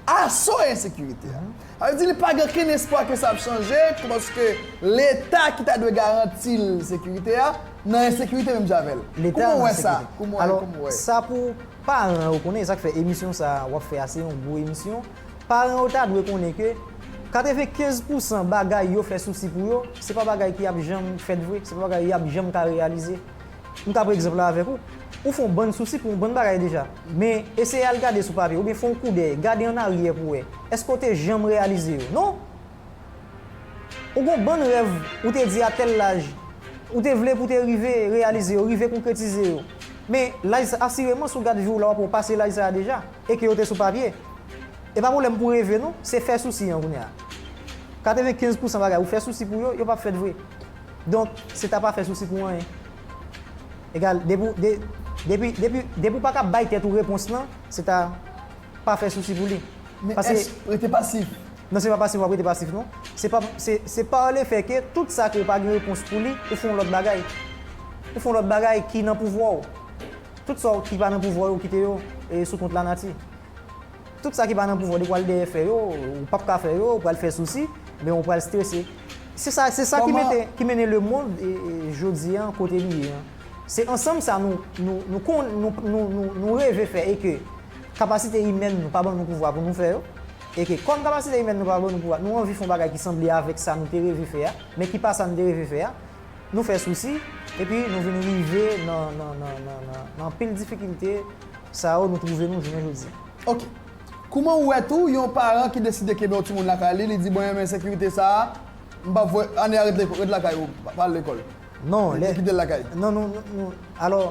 aso ensekirite a. Sa vle di li pa gen okenn espwa ke sa ap chanje tou paske leta ki ta dwe garanti l sekirite a nan ensekirite menm jan avè l. Kouman ou wè sa? Alò, sa pou paran yo konnen, e sa k fè emisyon sa a w ap fè a se yon gwo emisyon, paran yo ta dwe konnen ke katrevenkenz pousan bagay yo fè sousi pou yo, se pa bagay ki ap janm fèt vre, se pa bagay y ap janm ka reyalize. M ta pran egzanp la avèk ou. Ou fè yon bann sousi pou yon bann bagay deja. Men, eseye al gade sou papye, oubyen fè yon koudèy, gade an aryè pou wè. Èske ou te janm reyalize yo? Non! Ou gen yon bann rèv ou te di a tèl laj, ou te vle pou w te rive reyalize yo, rive konkretize yo. Men, laj sa, asireman si w gad vi w la w ap wè ou pase laj sa a deja, e ke yo te sou papye. E pa pwoblèm pou reve non, se fè sousi an kounye a. 95 pousan bagay ou fè sousi pou yo, yo p ap fèt vre. Donk, se ta pa fè sousi pou anyen. Egal, depi w, de, depi, depi, depi w pa ka bay tèt ou repons lan, se ta pa fè sousi pou li. Men Paske, èske rete pasif? Non, se pa pasif w ap rete pasif non. Se pa, se, se par le fè ke tout sa ke ou pa gen repons pou li, ou fè yon lòt bagay. Ou fè yon lòt bagay ki nan pouvwa w. Tout sa w ki pa nan pouvwa yo, kite yo e sou kont lanati. Tout sa ki pa nan pouvwa w depi w al dèyè fè yo, ou pap ka fè yo, ou pral fè sousi, men ou pral strese. Se sa, se sa ki mete, ki mennen lemond jodi an kote li ye an. Se ansanm sa nou, nou, nou kon, nou, nou, nou, nou reve fè e ke kapasite imèn nou pa ban nou pouvwa pou nou fè yo, e ke kòm kapasite imèn nou pa ban nou pouvwa, nou anvi fè yon bagay ki sanble avèk sa nou te reve fè a, men ki pa sa nou te reve fè a, nou fè sousi, epi nou vin rive nan, nan, nan, nan, nan, nan anpil difikilte sa yo nou twouve nou jounen jodi. Ok. Kouman ou wè tou yon paran ki deside kenbe yon timoun lakay li, li di mwen renmen sekirite sa a, m pap voye, Anne a rete ret lakay ou, pa al lekòl. Non, lè. Li kite l lakay. Non, nou, nou, alò,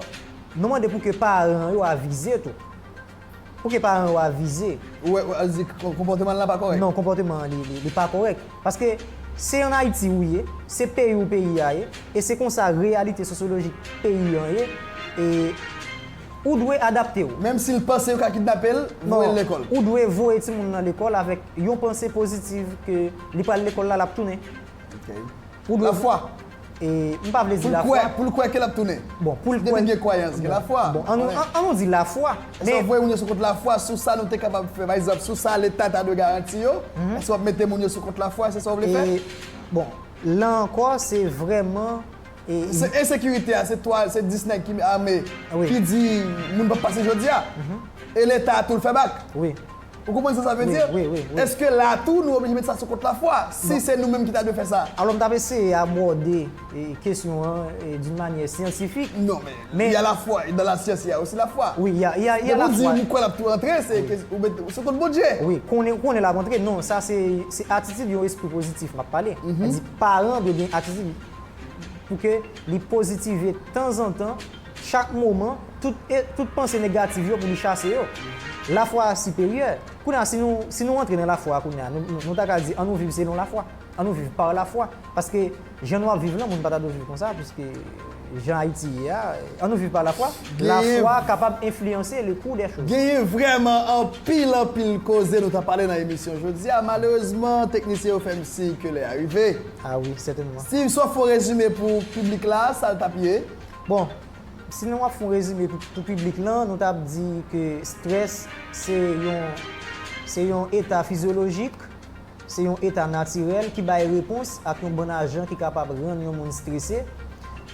nou mande pou ke paran an yo avize tou. Pou ke paran an yo avize. Ou wè, ou di konpòteman l la pa kòrèk. Non, konpòteman an li pa kòrèk. Paske se an Ayiti ou ye, se peyi ou peyi a ye, e se konsa reyalite sosyolojik peyi an ye, e. Ou dwe adapte w. Menm si l panse yo ka kidnape l, voye l lekòl. Ou dwe voye timoun nan lekòl avèk yon panse pozitiv ke li pral lekòl la l ap tounen. Lafwa. M pa vle di lafwa. Pou l kwè ke l ap tounen. Depi l gen kwayans, gen lafwa. An nou di lafwa. Èske w ap voye moun yo sou kont lafwa sou sa nou te kapab fè? Pa egzanp, sou sa Leta ta dwe garanti yo? Èske w ap mete moun yo sou kont lafwa? Se sa w vle fè? Bon, la ankò, se vrèman. Se ensekirite a se 3 se 10 nèg ki ame ki di moun pap pase jodia e leta tou l fè bak ou konprann sa sa vle di eske la tou nou oblije met sa sou kont lafwa si se nou menm ki ta dwe fè sa alò m tap eseye abòde kesyon an doun manyè syantifik non men y a lafwa dan la syans y a osi lafwa lè ou di ou kwè lap tou rantre se sou kont Bondye wi konnen ou konnen lap rantre non sa se atitid yon espri pozitif map pale paran dwe gen atitid Pou ke li pozitive tanzantan, chak moman, tout panse negativ yo pou li chase yo. Lafwa a siperyè. Kounye a, si nou antre nan lafwa a kounye a, nou ta ka di an nou viv selon lafwa. An nou viv pa lafwa. Paske jan nou ap viv lan, moun pa ta dwe viv konsa, piske jan Ayiti ye a, an nou viv pa lafwa. Lafwa kapab enfliyanse le kou dè choz. Genyen vrèman anpil anpil koze nou ta pale nan emisyon jodi a. Malerezman, teknisyen yo fè m siy ke lè a rive. Ah oui, certainement. Steve saw fon rezime pou piblik la, sal tap ye? Bon, si nou ap fon rezime pou piblik lan, nou tap di ke strès se yon se yon eta fizyolojik, se yon eta natirèl ki bay repons ak yon bann ajan ki kapab rann yon moun strese.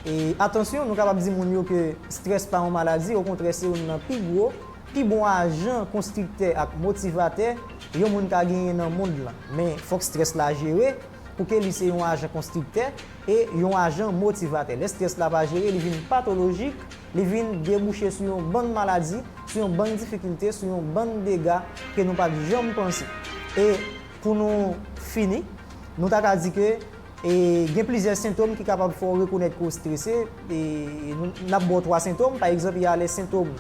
E atansyon, nou kapab di moun yo ke strès pa yon maladi, okontrè se youn nan pi gwo. Pi bon ajan, konstriktè ak motivatè yon moun ka genyen nan mond lan. Men, fòk strès la jere, pou ke li se yon ajan konstriktè e yon ajan motivatè. Lè strès la pa jere, li vin patolojik, li vin debouche sou yon bann maladi, sou yon bann difikilte, sou yon bann dega ke nou pa t janm panse. E, pou nou fini, nou ta ka di ke e gen plizyè sentom ki kapab fè w rekonèt ke w strese e n ap ba w twa sentom, pa egzanp, y a lè sentom.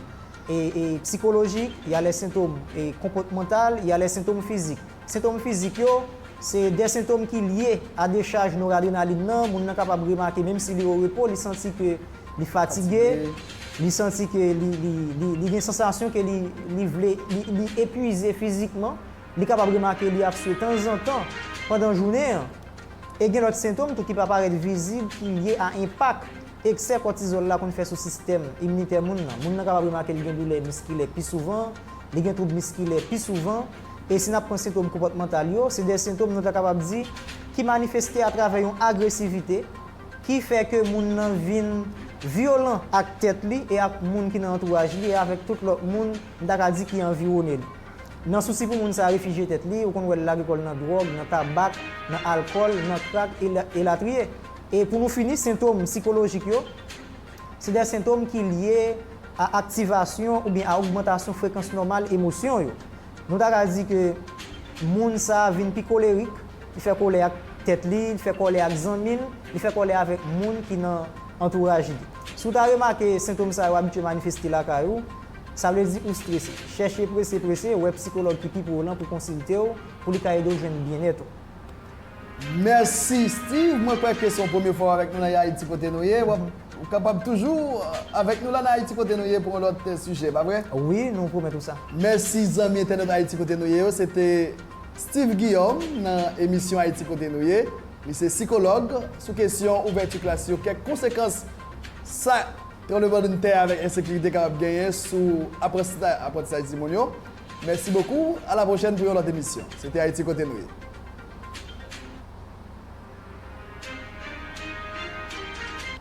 psikolojik, y a lè sentom konpòtmantal, y a lè sentom fizik. Sentom fizik yo, se de sentom ki lye a dechaj noradrenalin nan, moun nan kapab remake menm si li o repo li santi ke li fatige, li santi ke li gen sansasyon ke li vle, li epwize fizikman, li kapab remake li ap swe tanzantan pandan jounen an. E gen lòt sentom tou ki pa parèt vizib ki lye a enpak. Eksè kòtizòl la konn fè sou sistèm iminitè moun nan. Moun nan kapab remake li gen doulè miskilè pi souvan, li gen twoub miskilè pi souvan, e si n ap pran sentom konpòtmantal yo, se de sentom nou ta kapab di ki manifeste atravè yon agresivite ki fè ke moun nan vin vyolan ak tèt li e ak moun ki nan antouraj li e avèk tout lòt moun n ta ka di ki anviwone li. Nan sousi pou moun sa refijye tèt li, ou konn wè l lage kò l nan dwòg, nan tabak, nan alkòl, nan krak, elatriye. E pou nou fini, sentom sikolojik yo, se de sentom ki lye a aktivasyon oubyen a ogmantasyon frekans nòmal emosyon yo. Nou ta ka di ke moun sa a vin pi kolerik, li fè kòlè ak tèt li, li fè kòlè ak zanmi l, li fè kòlè avèk moun ki nan antouraj li. Si w ta remake sentom sa yo abitye manifeste lakay ou, sa vle di ou strese. Chèche prese prese wè psikològ ki pi pre w lan pou konsilte w, pou li ka ede w jwenn byennèt ou. Mèsi Steeve, mwen kwè ke se yon premye fwa w avèk nou nan Haïti kote nou ye. W ap kapab toujou avèk nou la nan Haïti kote nou ye pou yon lòt sijè, pa vre? Wi, nou pwomèt ou sa. Mèsi zanmi entènèt Haïti kote nou ye yo, se te Steeve Guillaume nan emisyon Haïti kote nou ye. Li se sikològ sou kesyon ouvèti klas yo, kèk konsekans sa tranblemann tè avèk ensekirite kapab genyen sou aprantisaj timoun yo. Mèsi bokou, a la pwochèn pou yon lòt emisyon. Se te Ayiti Kote Nou Ye.